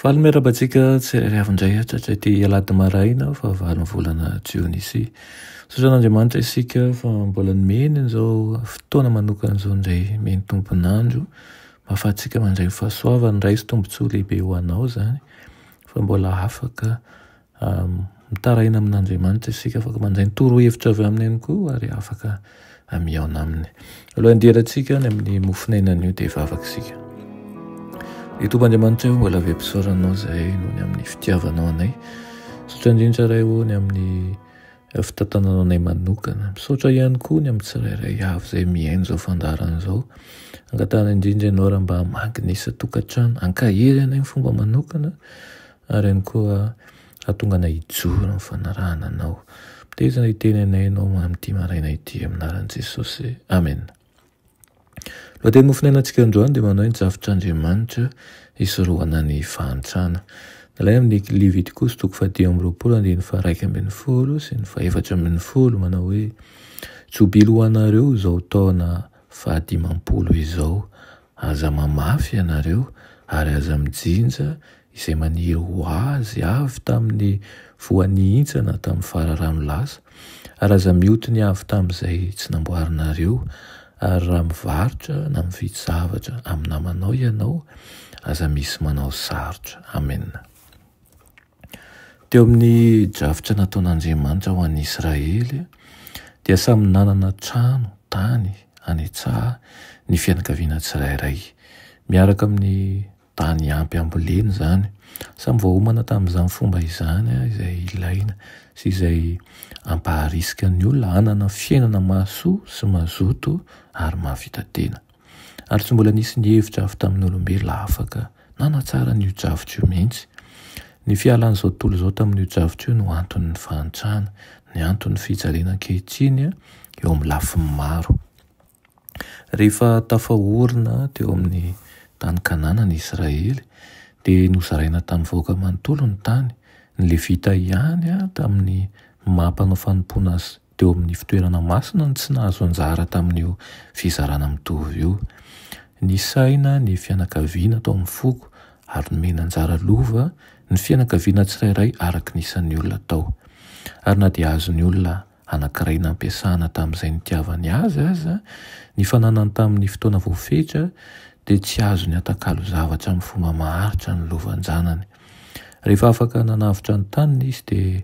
Faly miarahaba antsika tsirairay avy indray hatratra ity alahady maraina fahavalon'ny volana jionisia. Misaotra an'Andriamanitra isika fa mbola nomeny an'izao fotoana manokana izao indray mihaino ny tompon'andro. Mahafahantsika mandray ny fahasoavany, Ray sy tombontsoa lehibe ho anao izany fa mbola afaka Mitaraina amin'Andriamanitra isika, afaka mandray ny torohevitra avy aminy ihany koa ary afaka mihaona aminy. Alohan'ny handehanantsika any amin'ny mofon'aina anio dia hivavaka isika. Ry Tompo Andriamanitra, mbola vem-pisaoranao izay noho ny amin'ny fitiavanao anay. Misaotra indrindra Ray ô ny amin'ny fitantananao anay manokana. Misaotra ihany koa ny amin'ny tsirairay avy izay mihaino izao fandaharana izao. Angatahana indrindra ianao raha mba magnisa tokantrano, hankahery anay amin'ny fomba manokana. Ary ihany koa hahatonga anay hijoro amin'ny fanarahana Anao. Mitaiza hiteny anay Ianao amin'ity maraina ity, amin'ny anaran'i Jesosy. Amena. Ny lohateny nofonainantsika androany dia manao hoe ny Drafitr'Andriamanitra hisorohana ny fahantrana. Nalaina amin'ny Levitikosy toko fahadimy amby roapolo andininy faharaika ambin'ny folo sy ny fahefatra ambin'ny folo manao hoe, Jobilo ho anareo izao taona fahadimampolo izao. Aza mamafy ianareo ary aza mijinja izay maniry ho azy avy tamin'ny voa nihintsana tamin'ny fararano lasa, ary aza mioty ny avy tamin'izay tsy namboarinareo, ary raha mivarotra na mividy zavatra amin'ny namanao ianao, aza misy manao sarotra. Amena. Teo amin'ny drafitra nataon'Andriamanitra ho an'ny Israely, dia samy nanana trano, tany, any an-tsaha, ny fianakaviana tsirairay, miaraka amin'ny. tany ampy ambolena izany. Samy voaomana tamin'izany fomba izany izay ilaina sy izay ampaharisika ny olona hanana fiainana mahasoa sy mazoto ary mahavita tena. Ary tsy mbola nisy nihevitra avy tamin'olombelona afaka nanatsara an'io drafitra io mihitsy. Ny fialan'izao tontolo izao tamin'io drafitra io no anton'ny fahantrana, ny anton'ny fijaliana ankehitriny eo amin'ny lafiny maro. Rehefa tafahorina teo amin'ny tany Kanana ny Israely, dia nozaraina tamin'ny vahoaka manontolo ny tany. Ny Levita ihany tamin'ny maha mpanao fanompoana azy teo amin'ny fitoerana masina no tsy nahazo anjara tamin'io fizarana mitovy io. Nisaina ny fianakaviana tao amin'ny foko ary nomena anjara lova ny fianakaviana tsirairay araka ny isan'ny olona tao. Ary na dia azon'ny olona anankiray nampiasana tamin'izay nitiavany azy aza, ny fananany tamin'ny fotoana voafetra dia tsy azony atakalo zavatra amin'ny fomba maharitra ny lovanjanany. Rehefa afaka nanavotra ny taniny izy dia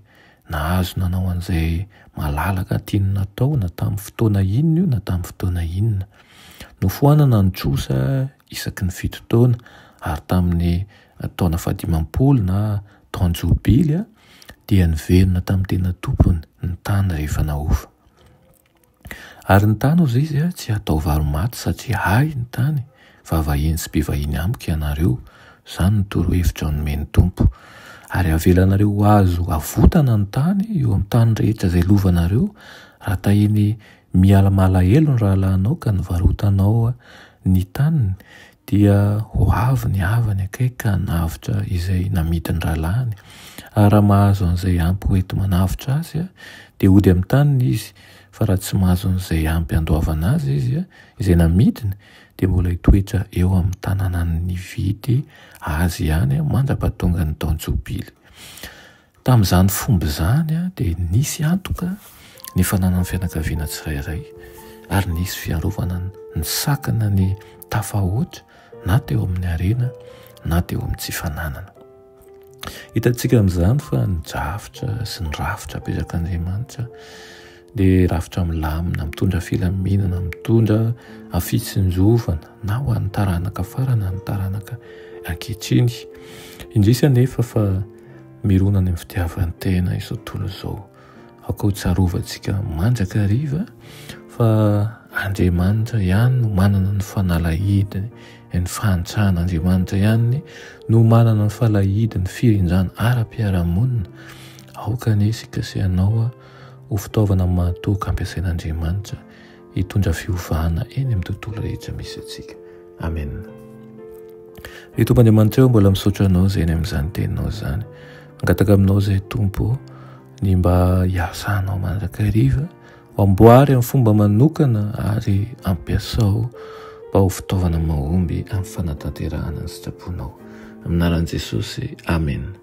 nahazo nanao an'izay malalaka tiany natao na tamin'ny fotoana inona io na tamin'ny fotoana inona. Nofoanana ny trosa isaky ny fito taona ary tamin'ny taona fahadimampolo na Tao Jobily dia niverina tamin'ny tena tompony ny tany rehefa nahofa. Ary ny tany, hoy izy, tsy hatao varo-maty satria ahy ny tany, fa vahiny sy mpivahiny amiko ianareo. Izany no torohevitra nomen'ny Tompo. Ary havelanareo ho azo avotana ny tany eo amin'ny tany rehetra izay lovanareo, raha tahiny miala malahelo ny rahalahinao ka nivarotanao ny taniny, dia ho avy ny havany akaiky ka hanavotra izay namidin'ny rahalahiny, ary raha mahazo an'izay ampy hoenti-manavotra azy, dia hody amin'ny taniny izy, fa raha tsy mahazo an'izay ampy handoavana azy izy, izay namidiny, dia mbola hitoetra eo amin'ny tanànan'ny nividy azy ihany mandra-pahatongan'ny taon-jobily. Tamin'izany fomba izany dia nisy antoka ny fananan'ny fianakaviana tsirairay ary nisy fiarovana nisakana ny tafahoatra na teo amin'ny harena na teo amin'ny tsy fananana. Hitantsika amin'izany fa ny drafitra sy ny rafitra apetrakan'Andriamanitra dia rafitra milamina, mitondra filaminana, mitondra fitsinjovana na ho an'ny taranaka farany na ny taranaka ankehitriny. Indrisy anefa fa mirona any amin'ny fitiavan-tena izao tontolo izao. Aoka ho tsarovantsika mandrakariva fa Andriamanitra ihany no manana ny fanalahidiny, ny fahantrana Andriamanitra ihany no manana ny falahidiny, firindrana ara-piarahamonina. Aoka anie isika sy ianao ho fitaovana mahatoky ampiasain'Andriamanitra hitondra fiovana eny amin'ny tontolo rehetra misy antsika. Amen. Ry Tompo Andriamanitra eo, mbola misaotra anao izay eny amin'izany teninao izany. Mangataka aminao izay Tompo ny mba hiasanao mandrakariva, amboary amin'ny fomba manokana ary ampiasao mba ho fitaovana mahomby amin'ny fanatanterahana ny sitraponao. Aminaran'i Jesosy. Amen.